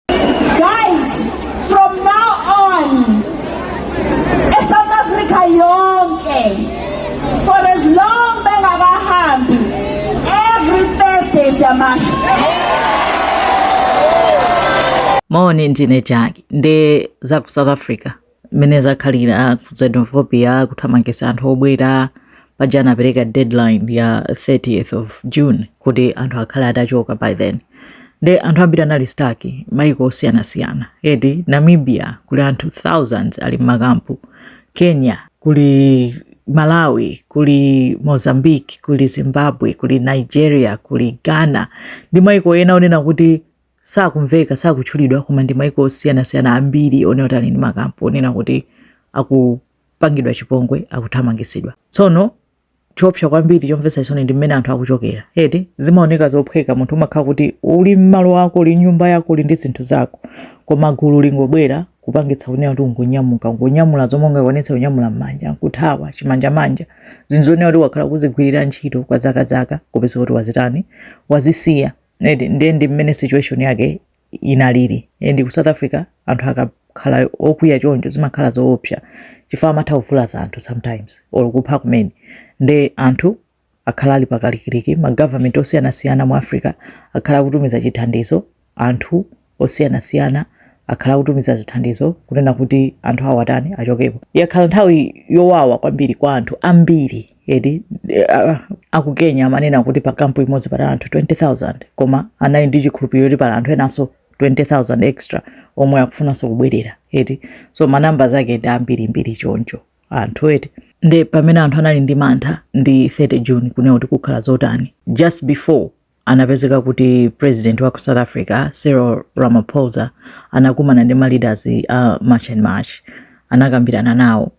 Guys, from now on, eSouth Africa yonke, for as long bengakahambi, every Thursday siyamasha. mone ndine jaki nde za ku south africa mmene zakhalira ku xenophobia kuthamangisa anthu obwera paja anapereka deadline ya 30th of june kuti anthu akhale atachoka by then nde anthu ambiri anali staki maiko osiyanasiyana eti namibia kuli anthu thousands ali mmakampu kenya kuli malawi kuli mozambique kuli zimbabwe kuli nigeria kuli ghana ndi maiko ena onena kuti sakumveka sakutchulidwa koma ndi maiko osiyanasiyana ambiri onena kuti ali ndi makampu onena kuti akupangidwa chipongwe akuthamangitsidwa tsono choopsa kwambiri chomvetsa chisoni ndi mmene anthu akuchokera eti zimaoneka zophweka munthu umakhala kuti uli mmalo ako uli nyumba yako uli ndi zinthu zako koma gulu lingobwera kupangitsa kunena kuti ungonyamuka ungonyamula zomwe ungakwanitse kunyamula m'manja nkuthawa chimanjamanja zinthu zonena kuti wakhala kuzigwirira ntchito kwa zakazaka kupeza kuti wazitani wazisiya eti ndiye ndi mmene situation yake inalili and ku south africa anthu akakhala okwiya choncho zimakhala zoopsa chifukwa amatha kuvulaza anthu sometimes or kupha kumene nde anthu akhala ali pakalikiliki magovernment osiyanasiyana mu africa akhala akutumiza chithandizo anthu osiyanasiyana akhala akutumiza zithandizo kunena kuti anthu awo atani achokepo. Yakhala nthawi yowawa kwambiri kwa anthu ambiri eti uh, aku Kenya amanena kuti pa kampu imodzi pali anthu 20000 koma anali ndi chikhulupiriro kuti pali anthu enanso 20000 extra omwe akufunanso kubwerera eti so manamba zake ndi ambirimbiri choncho anthu eti nde pamene anthu anali ndi mantha ndi 30 June kunena kuti kukhala zotani just before anapezeka kuti president wa ku south africa cyril ramaphosa anakumana ndi ma leaders a march and march anakambirana nawo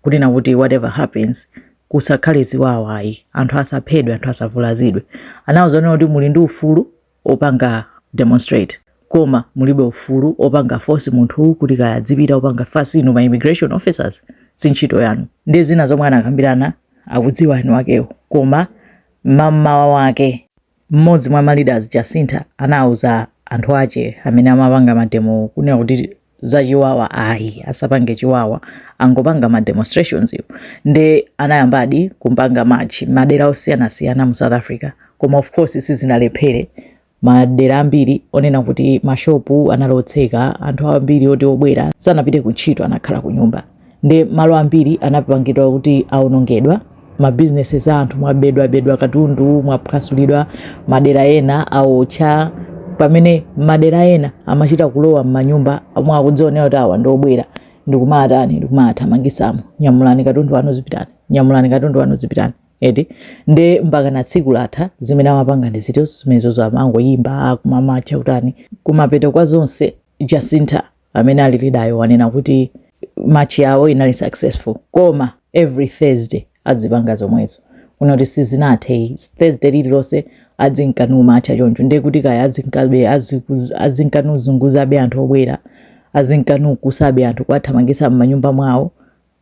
kunena kuti whatever happens kusakhale ziwawa ayi anthu asaphedwe anthu asavulazidwe anawauza kunena kuti muli ndi ufulu opanga demonstrate koma mulibe ufulu opanga force munthu kuti kaya azipita opanga fasi inu ma immigration officers si ntchito yanu ndi zina zomwe anakambirana akudziwa eni akewo koma Mam'mawa wake, m'modzi mwa ma leaders Jacintha anauza anthu ache amene amapanga mademowo kunena kuti za chiwawa ayi asapange chiwawa angopanga ma demonstrationswo nde anayambadi kupanga march madera osiyanasiyana mu south africa koma of course sizinalephere Madera ambiri onena kuti mashopu anali otseka, anthu ambiri oti obwera sanapite ku ntchito anakhala ku nyumba, ndi malo ambiri anapangidwa kuti aonongedwa, mabizinesi za anthu mwabedwabedwa katundu, mwaphwasulidwa, madera ena awotcha, pamene madera ena amachita kulowa m'manyumba omwe akuzionera kuti awa ndi obwera ndikumatani ndikumathamangisamo nyamulani katundu wanu zipitani nyamulani katundu wanu zipitani. eti nde mpakana tsiku latha zimene amapanga ndi zinthu zimenezo amangoyimba kumamacha kutani kumapeto kwa zonse jacinta amene ali leader-yo wanena kuti march yawo inali successful koma every thursday adzipanga zomwezo kunena kuti sizinathe thursday lililonse adzinka namamacha choncho ndiye kuti kaya adzinkabe aziku- adzinka nazunguzabe anthu obwera adzinka nakusabe anthu kuwathamangisa m'manyumba mwawo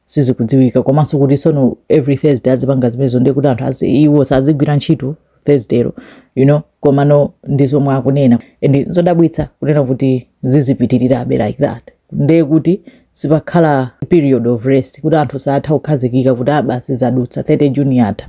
sizikudziwika komanso kuti sono every thursday azipanga zimenezo ndiye kuti anthu azi iwo sazigwira ntchito thursdaylo you know komano ndi zomwe akunena and zodabwitsa kunena kuti zizipitirirabe like that ndiye kuti sipakhala period of rest kuti anthu saatha kukhazikika kuti aa basi zadutsa 30 juni yatha